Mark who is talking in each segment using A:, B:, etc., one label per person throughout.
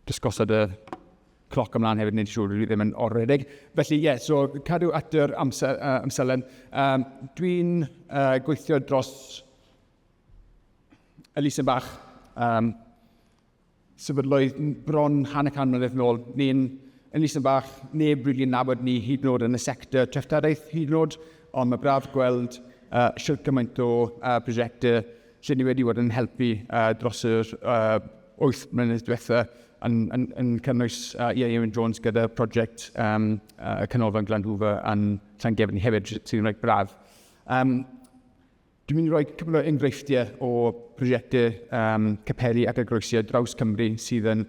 A: Just gosod y cloc ymlaen hefyd, nid siŵr, dwi ddim yn oredig. Felly, ie, yeah, so cadw at yr amser, uh, amserlen. Um, Dwi'n uh, gweithio dros Elisa Bach, um, Sefydlwyd bron hanner can mlynedd yn ôl. Ni'n yn Eastern bach, neb rili'n nabod ni hyd yn oed yn y sector treftadaeth hyd yn oed, ond mae braf gweld uh, shwt gymaint o uh, prosiectau lle ni wedi bod yn helpu uh, dros yr uh, 8 mlynedd diwetha yn, yn, yn cynnwys uh, Ieuan Jones gyda prosiect um, uh, Canolfan Glan Hoover yn Llangefni hefyd, sy'n rhaid braf. Um, Dwi'n mynd i roi cwpl o enghreifftiau o brosiectau um, capeli ac eglwysi ar draws Cymru sydd yn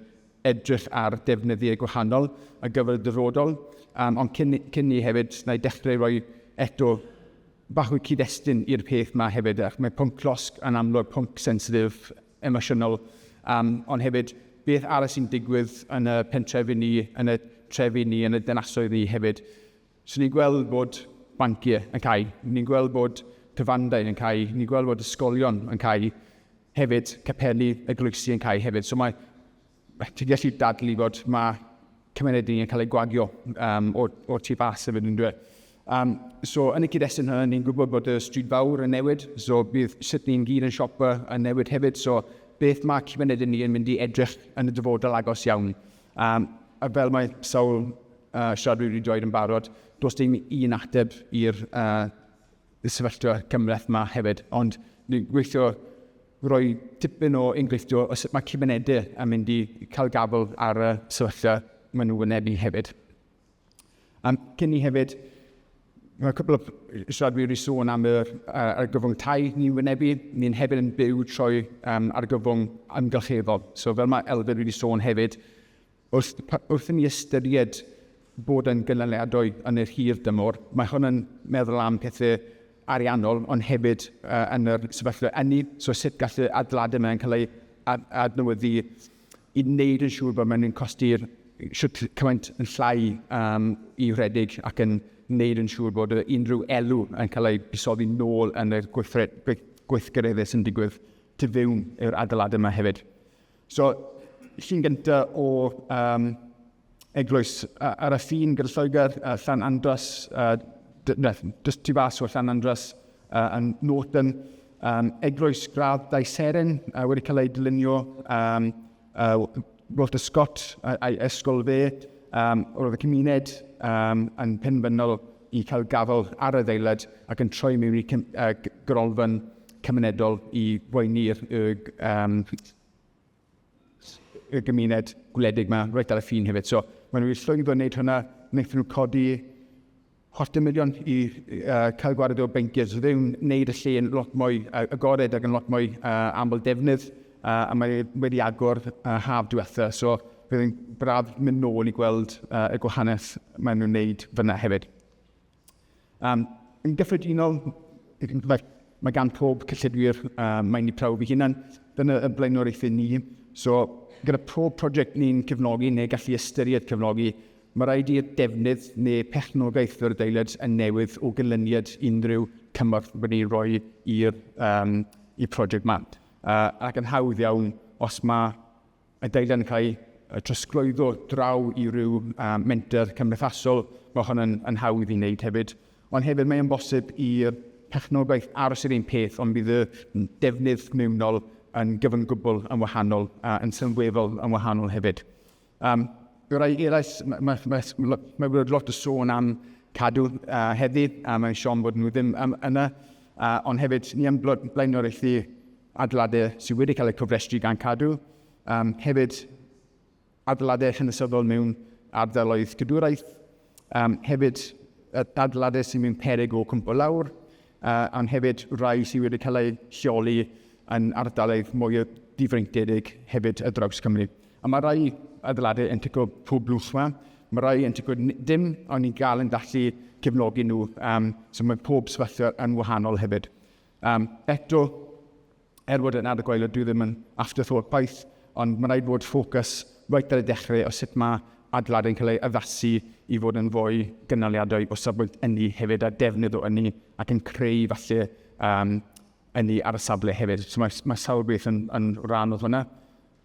A: edrych ar defnyddiau gwahanol ar gyfer y dyfodol, um, ond cyn, cyn ni hefyd, na i dechrau roi eto bach o cyd-destun i'r peth yma hefyd, ac mae pwnc llosg yn amlwg pwnc sensitif, emosiynol, um, ond hefyd beth arall sy'n digwydd yn y pentrefi ni, yn y trefi ni, yn y dynasoedd ni hefyd. So ni'n gweld bod banciau yn cau, ni'n gweld bod cyfandau yn cau, ni'n gweld bod ysgolion yn cau hefyd, capeli eglwysi yn cau hefyd. So mae, ti'n gallu dadlu bod mae cymuned ni yn cael ei gwagio um, o, o tu fas hefyd yn dweud. Um, so yn y cyd-destun hynny, ni'n gwybod bod y stryd fawr yn newid, so bydd sut ni'n gyd yn siopa yn newid hefyd, so beth mae cymuned ni yn mynd i edrych yn y dyfodol agos iawn. Yym, a fel mae sawl uh, siaradwyr wedi dweud yn barod, does dim un ateb i'r uh, sefyllfa cymleth yma hefyd, ond ni'n gweithio roi tipyn o enghreiffio o sut mae cymunedau yn mynd i cael gafel ar y sefyllfa maen nhw'n wynebu hefyd. Um, cyn ni hefyd, mae cwbl o siaradwyr wedi sôn am yr uh, argyfwng tai ni'n wynebu. Ni'n hefyd yn byw trwy um, argyfwng amgylcheddol. So fel mae Elfed wedi sôn hefyd, wrth, wrth i ni ystyried bod yn gynaliadwy yn yr hir dymor, mae hwn yn meddwl am pethau ariannol, ond hefyd uh, yn yr sefyllfa enni, so sut gallu adeiladu mae'n cael ei adnewyddu i wneud yn siŵr bod mae'n costi'r shwt cymaint yn llai um, i wredig ac yn wneud yn siŵr bod unrhyw elw yn cael ei busoddi nôl yn y gweithgareddau sy'n digwydd tu fewn i'r adeiladau yma hefyd. So, llun gyntaf o um, eglwys ar y ffin gyda Lloegr, uh, Llan Andras, uh, just tu fas o Llan Andras uh, yn Norton, um, eglwys gradd dau seren uh, wedi cael ei dylunio um, uh, Walter Scott a'i ysgol fe, um, roedd y cymuned um, yn penfynol i cael gafel ar y ddeilad ac yn troi mewn i cym, uh, gyrolfan cymunedol i boeni'r um, y gymuned gwledig yma, roedd ar y ffin hefyd. So, maen nhw wedi llwyddo wneud hwnna, wnaethon nhw codi chwarter miliwn i uh, cael gwared o bencers, oedd yw'n wneud y lle yn lot mwy uh, agored ac yn lot mwy uh, aml defnydd, uh, a mae wedi agor uh, haf diwetha, so bydd yn braf mynd nôl i gweld uh, y gwahaniaeth maen nhw'n wneud fyna hefyd. Um, yn gyffredinol, mae, mae gan pob cyllidwyr, uh, mae'n ni prawf i hunan, dyna y blaenoriaethau ni. So, gyda pob prosiect ni'n cyfnogi neu gallu ystyried cyfnogi, mae rhaid i'r defnydd neu perchnogaeth yr adeilad yn newydd o gynlyniad unrhyw cymorth wedi rhoi i'r um, i prosiect yma. Uh, ac yn hawdd iawn, os mae Mae dynion yn cael eu trosglwyddo draw i ryw menter cymdeithasol, mae hon yn, yn hawdd i wneud hefyd, ond hefyd mae o'n bosib i'r perchnogaeth aros yr un peth, ond bydd y defnydd mewnol yn gyfan gwbl yn wahanol, a yn sylweddol yn wahanol hefyd. Um, rai eraill, mae, mae, mae, mae, mae wedi lot o sôn am cadw uh, heddi, a mae'n siom bod nhw ddim um, yna, uh, ond hefyd ni am blaenoriaethu adeiladau sydd wedi cael eu cofrestru gan Cadw, um, hefyd adeiladau chynysyddol mewn ardaloedd cadwraeth, um, hefyd adeiladau sydd mewn perig o cwmpo lawr, uh, ond hefyd rhai sydd wedi cael eu lleoli yn ardaloedd mwy o difreintiedig hefyd y draws Cymru. A mae rhai adeiladau yn tico pob blwch yma, mae rhai yn tico dim, ond ni'n gael yn gallu cefnogi nhw, um, so mae pob sefyllfa yn wahanol hefyd. Um, eto, er bod yn ar y gwaelod, dwi ddim yn afterthought paith, ond mae rhaid bod ffocws reit ar y dechrau o sut mae adlad yn cael ei addasu i fod yn fwy gynaliadwy o safbwynt ynni hefyd a defnydd o ynni ac yn creu falle um, ynni ar y safle hefyd. So mae, mae sawl beth yn, yn rhan o hwnna.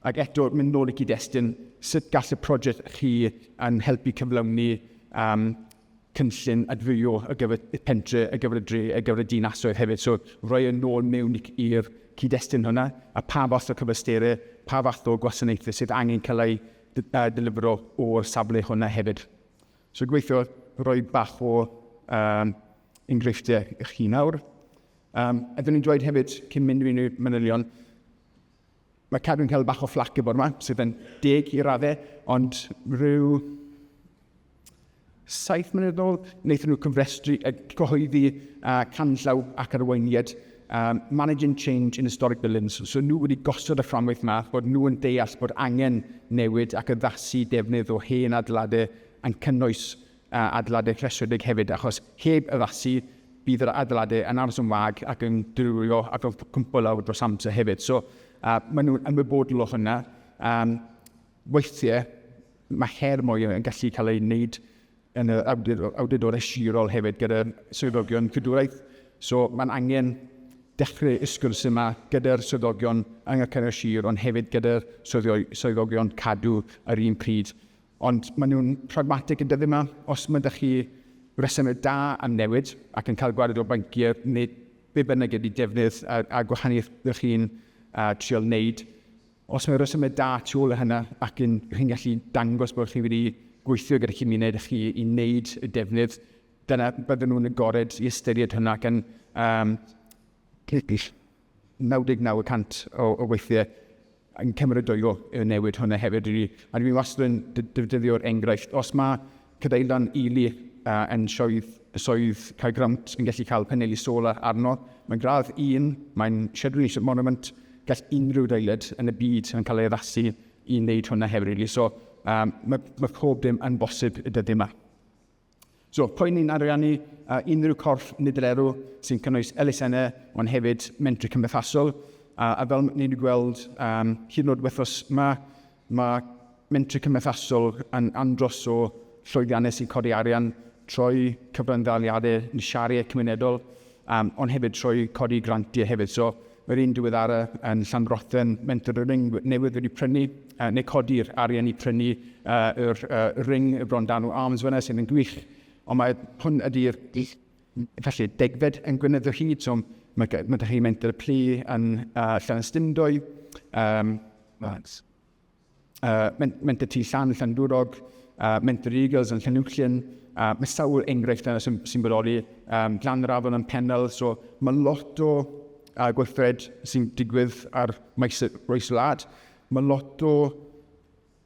A: Ac eto, mynd nôl i cyd-destun, sut gall y prosiect chi yn helpu cyflawni um, cynllun adfywio ar gyfer y pentre, ar gyfer y dre, ar gyfer y dinasoedd hefyd. So roi yn ôl mewn i'r cyd-destun hwnna, a pa fath o cyfystyre, pa fath o gwasanaethau sydd angen cael ei delifro o'r safle hwnna hefyd. So gweithio roi bach o um, enghreifftiau i chi nawr. Um, a dyn ni'n dweud hefyd, cyn mynd i unrhyw manylion, Mae Cadwyn cael bach o fflac y bore yma, sydd yn deg i raddau, ond rhyw saith mlynedd yn ôl, wnaethon nhw cyfrestru, uh, cyhoeddi uh, canllaw ac arweiniad um, Managing Change in Historic Buildings. So nhw wedi gosod y fframwaith yma, bod nhw yn deall bod angen newid ac addasu defnydd o hen adeiladau yn cynnwys a adeiladau rhestredig hefyd, achos heb addasu bydd yr adeiladau yn aros yn wag ac yn dirywio ac yn cwmpo lawr dros amser hefyd. So, uh, maen nhw'n ymwybodol o hynna. Um, weithiau, mae her mwy yn gallu cael ei wneud yn yr awdurdod esirol hefyd gyda swyddogion cydwraeth. So, mae'n angen dechrau y sgwrs yma gyda'r swyddogion yng Nghyngor Sir, ond hefyd gyda'r swyddogion cadw yr un pryd. Ond maen nhw'n pragmatig yn dyddiau yma. Os mae 'da chi resymeg da am newid ac yn cael gwared o fanciau neu be bynnag ydy defnydd a gwahaniaeth ydych chi'n trial wneud, os mae resymeg da tu ôl i hynna ac yn chi'n gallu dangos bod chi wedi gweithio gyda cymuned ych chi i wneud y defnydd, dyna bydden nhw'n agored i ystyried hwnna ac yn 99 y cant o, o weithiau yn cymryd o yo y newid hwnna hefyd i ni. A dwi'n wastad yn defnyddio'r enghraifft, os mae cadeilan Ely uh, yn sioedd, soedd Caergrawnt yn gallu cael paneli solar arno, mae'n gradd un, mae'n Shed Relationship Monument, gall unrhyw adeilad yn y byd yn cael ei addasu i wneud hwnna hefyd. Really. So, um, mae, mae pob dim yn bosib y dyddiau yma. So, poeni'n ariannu a unrhyw corff nid yr erw sy'n cynnwys elusennau, ond hefyd mentri cymdeithasol. A, a fel ni wedi gweld um, hyd yn oed wythnos yma, mae mentri cymdeithasol yn andros o llwyddiannau sy'n codi arian, troi cyfranddaliadau, nisiariau cymunedol, Um, ond hefyd trwy codi grantiau hefyd. So, mae'r un diweddara yn Llanrothen, mentor y ring newydd wedi prynu, uh, neu codi'r arian i prynu uh, yr uh, ring y bron dan o arms fyna sydd yn gwych. Ond mae hwn ydy'r felly degfed yn gwynedd o hyd, so mae, mae ydych chi'n mentor y plu yn uh, Llanystumdoedd. Um, uh, Menter Tŷ Llan, Llandwrog, uh, Menter Eagles yn Llanuwchllyn, uh, mae sawl enghraifft yna sy'n sy bodoli, um, Glan yr Afon yn Penel, so mae lot o uh, gweithred sy'n digwydd ar maes y roes wlad. Mae lot o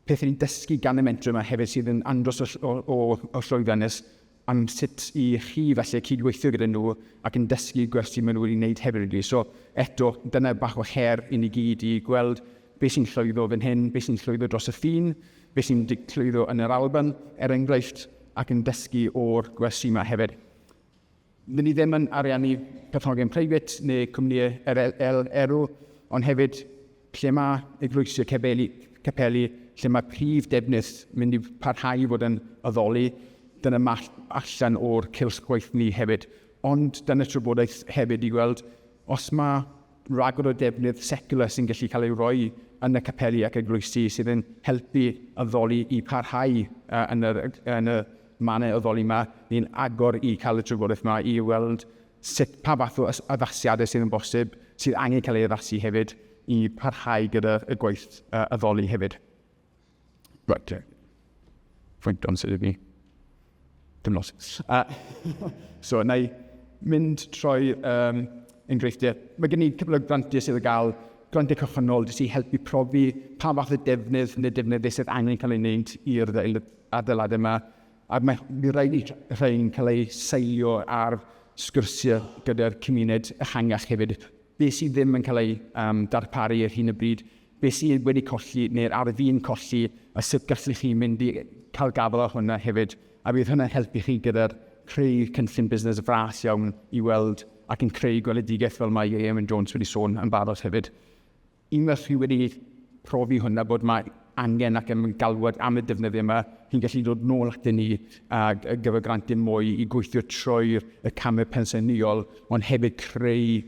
A: pethau ni'n dysgu gan y mentor yma hefyd sydd yn andros o, o, o, o llwyddiannus am sut i chi falle cydweithio gyda nhw ac yn dysgu gwersi maen nhw wedi wneud hefyd rili. So eto, dyna bach o her i ni gyd i gweld beth sy'n llwyddo fan hyn, beth sy'n llwyddo dros y ffin, beth sy'n llwyddo yn yr Alban, er enghraifft, ac yn dysgu o'r gwersi yma hefyd. Dyn ni ddim yn ariannu perchnogion preifat neu cwmnïau er, er, erw, ond hefyd Lle mae eglwysi capeli, capeli lle mae prif defnydd mynd i parhau i fod yn addoli, dyna mall allan o'r cylch gwaith ni hefyd. Ond dyna trafodaeth hefyd i weld os mae rhagor o defnydd seciwlar sy'n gallu cael ei roi yn y capeli ac eglwysi sydd yn helpu addoli i parhau yn yr, yn y mannau addoli 'ma. Ni'n agor i cael y trafodaeth 'ma i weld sut pa fath o addasiadau sydd yn bosib, sydd angen cael ei addasu hefyd i parhau gyda y gwaith uh, addoli hefyd. Right, te. Fwynt o'n sydd i Dim lot. Uh, so, na i mynd troi um, enghreifftiau. Mae gen i cwpl o grantiau sydd yn cael grantiau cychwynnol jyst i helpu profi pa fath o defnydd neu defnyddau sydd angen cael ei wneud i'r adeiladau yma. A mae mi rhaid i rhain cael eu seilio ar sgyrsiau gyda'r cymuned ehangach hefyd. Be sydd ddim yn cael ei um, darparu ar hyn y bryd, be sydd wedi colli neu'r ar fi'n colli, a sut gallu chi mynd i cael gafel ar hwnna hefyd. A bydd hwnna'n helpu chi gyda'r creu cynllun busnes fras iawn i weld ac yn creu gweledigaeth fel mae Eamon Jones wedi sôn yn barod hefyd. Unwaith chi wedi profi hwn a bod mae angen ac yn galwad am y defnyddiau yma, chi'n gallu dod nôl atyn ni ar gyfer grantiau mwy i gweithio trwy y camau pensaernïol, ond hefyd creu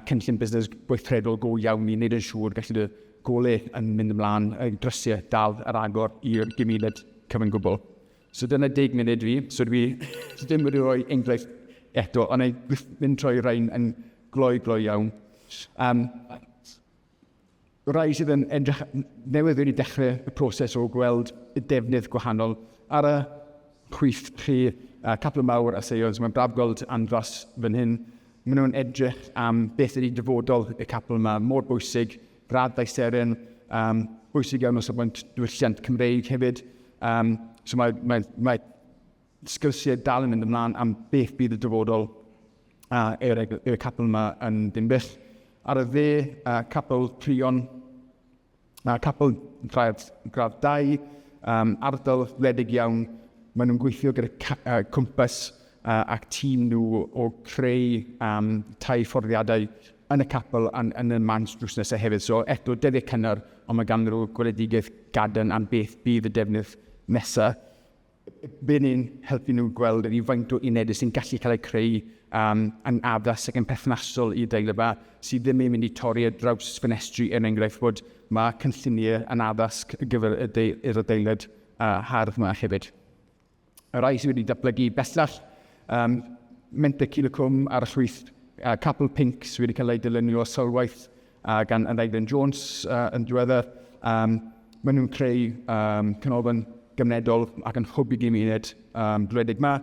A: cynllun busnes gweithredol go iawn i wneud yn siŵr gallu dy golau yn mynd ymlaen, drysiau dal ar agor i'r gymuned cyfan gwbl. So dyna deg munud fi, so dwi ddim wedi rhoi enghraifft eto, ond ei mynd troi rhain yn gloi gloi iawn. Um, rai sydd yn edrych newydd wedi dechrau y proses o gweld y defnydd gwahanol ar y chwith chi a capel mawr a seions. Mae'n braf gweld andros fan hyn. Maen nhw'n edrych am beth ydy dyfodol y capel yma, mor bwysig graddau seren um, bwysig iawn o safbwynt diwylliant Cymreig hefyd. Um, so mae, mae, mae sgyrsiau dal yn mynd ymlaen am beth bydd y dyfodol a yw'r yw capel yma yn dimbyll. Ar y dde, a capel Prion, a capel gradd, gradd 2, um, ardal wledig iawn. Maen nhw'n gweithio gyda uh, cwmpas a'u tîm nhw o creu yym tai fforddiadau yn y capel a'n yn y Manse drws nesa hefyd. So eto dyddiau cynnar ond mae ganddyn nhw gweledigaeth gadarn am beth bydd y defnydd nesa. Bydd ni'n helpu nhw gweld ydi faint o unedau sy'n gallu cael eu creu um, yn addas ac yn perthnasol i deil yma sydd ddim yn mynd i torri ar draws ffenestri er enghraifft bod mae cynlluniau yn addasg ar gyfer y deil, yr adeilad uh, hardd yma hefyd. y rhai sydd wedi datblygu bellach, um, Menter Cilacwm a'r llwyth uh, Capel Pink sydd wedi cael ei dylunio o sylwaith uh, gan Anailen Jones uh, yn diweddar. Um, maen nhw'n creu um, canolfan gymunedol ac yn hwb i gymuned um, gwledig yma,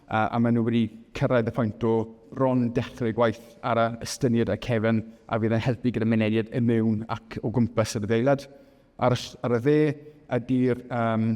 A: uh, a maen nhw wedi cyrraedd y pwynt o ron dechrau gwaith ar y ystyniad a cefn a fydd yn helpu gyda mynediad y mewn ac o gwmpas yr adeilad. Ar, ar y dde ydy'r um,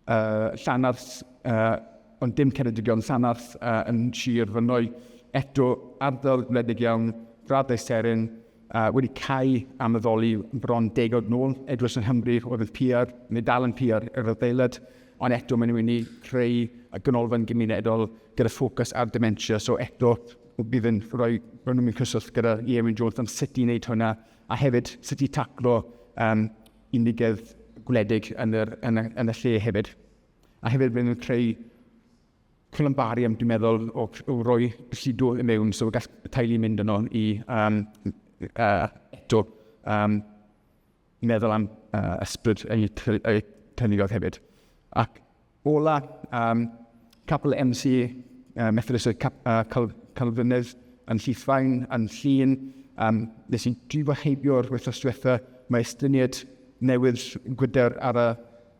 A: uh, Llanarth, uh, ond dim Ceredigion, Llanarth uh, yn Sir Fynwy, eto ardal wledig iawn, graddau seren, uh, wedi cael am addoli bron degod nôl, edrych yn Hymru oedd yn piar, neu dal yn piar yr adeilad, ond eto maen nhw'n mynd i creu y ganolfan gymunedol gyda ffocws ar dementia. So eto, bydd yn rhoi, rhoi nhw'n mynd cyswllt gyda Iewyn Jones am sut i wneud hwnna, a hefyd sut i taclo um, unigedd gwledig yn, yr, yn, y, yn y lle hefyd. A hefyd byddwn nhw'n creu columbarium, dwi'n meddwl, o, o roi llido i mewn, so gall teulu mynd yno i um, uh, eto um, meddwl am uh, ysbryd y cynigodd hefyd. Ac Ola, um, Capel MC uh, Methodist y Cap, uh, Cal, Calfynydd yn Llithfaen, yn Llun. Um, nes i drifo heibio'r wythnos diwetha, mae estyniad newydd gwydr ar y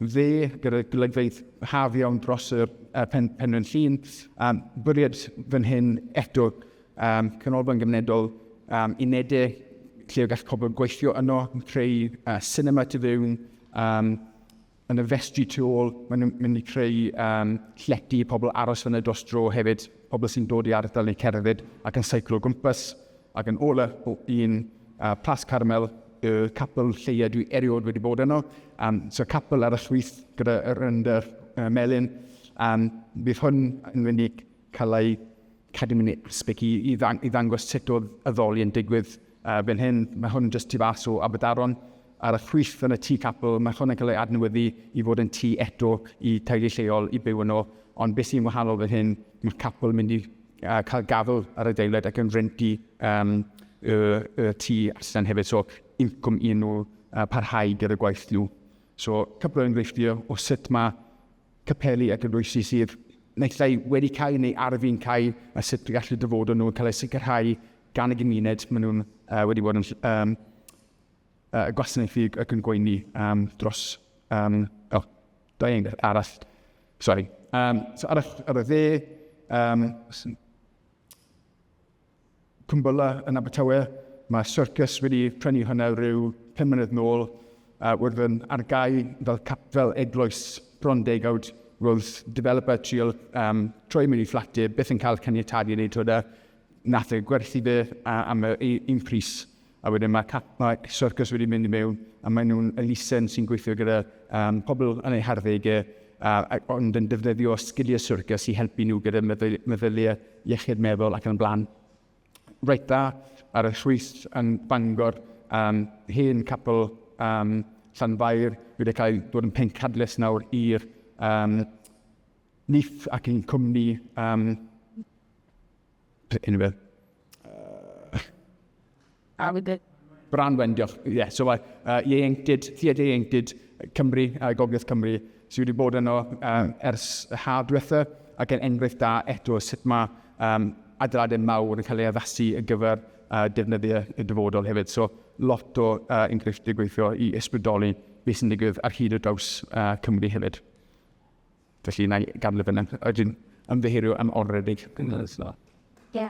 A: dde gyda golygfeydd haf iawn dros y uh, pen, penrhyn llun. Um, bwriad fan hyn eto um, canolfan gymunedol um, unedau lle o gall pobl gweithio yno, creu uh, cinema tu fewn, um, yn y festri tu ôl, maen nhw'n mynd i creu um, llety i pobl aros fyny dros dro hefyd, pobl sy'n dod i ardal neu cerdded ac yn seiclo gwmpas, ac yn ola o un uh, Plas Carmel, y capel lleia dwi erioed wedi bod yno, um, so capel ar y llwyth gyda'r render uh, melyn, um, bydd hwn yn mynd i Cael cadw mewn aspect i i i ddangos sut oedd addoli yn digwydd uh, fan hyn. Mae hwn jyst tu fas o Aberdaron ar y chwith yn y tŷ capel. Mae hwn yn cael ei adnewyddu i fod yn tŷ eto i teulu lleol i byw yno. Ond beth sy'n wahanol fan hyn, mae capel yn mynd i uh, cael gafel ar y deiled ac yn renti um, y, y tŷ allan hefyd. So incwm i nhw uh, parhau gyda gwaith nhw. So cwpl o enghreifftiau o sut mae capeli a gynrwysi sydd naill ai wedi cael neu ar fin cael a sut y gallu dyfodol nhw yn cael eu sicrhau gan y gymuned maen nhw'n uh, wedi bod yn um, uh, gwasanaethu ac yn gweini um, dros um, oh, da i'n arall sorry um, so arall ar y dde um, Cwmbylla yn Abertawe. Mae syrcys wedi prynu hwnna rhyw pum mlynedd nôl a wrth yn ar gau fel capel eglwys bron degawd, roedd developer trial um, troi mewn i fflat e, byth yn cael caniatadu i wneud hwnna. Nath e gwerthu fe a, am yr un pris A wedyn mae Catmai Circus wedi mynd i mewn a maen nhw'n elusen sy'n gweithio gyda um, pobl yn eu harddegau uh, ond yn defnyddio sgiliau syrcus i helpu nhw gyda meddyliau iechyd meddwl ac yn blaen. Reit dda ar y chwys yn Bangor, um, hen capel um, Llanfair wedi cael dod yn pencadlys nawr i'r um, NIF ac yn cwmni um, Unrhyw beth? A wedi... Bran Wen, diolch. Ie, yeah, so mae uh, ieuenctid, Theatr Ieuenctid Cymru, uh, Gogledd Cymru, sydd wedi bod yno uh, ers y haf diwetha, ac yn enghraifft da eto sut mae um, adeiladau mawr yn cael ei addasu ar gyfer uh, defnyddiau y dyfodol hefyd. So, lot o uh, enghreifftiau gweithio i ysbrydoli beth sy'n digwydd ar hyd y draws uh, Cymru hefyd. Felly, na i gadw fyna. Ydyn, ymddiheuro
B: am
A: oredig. Ie.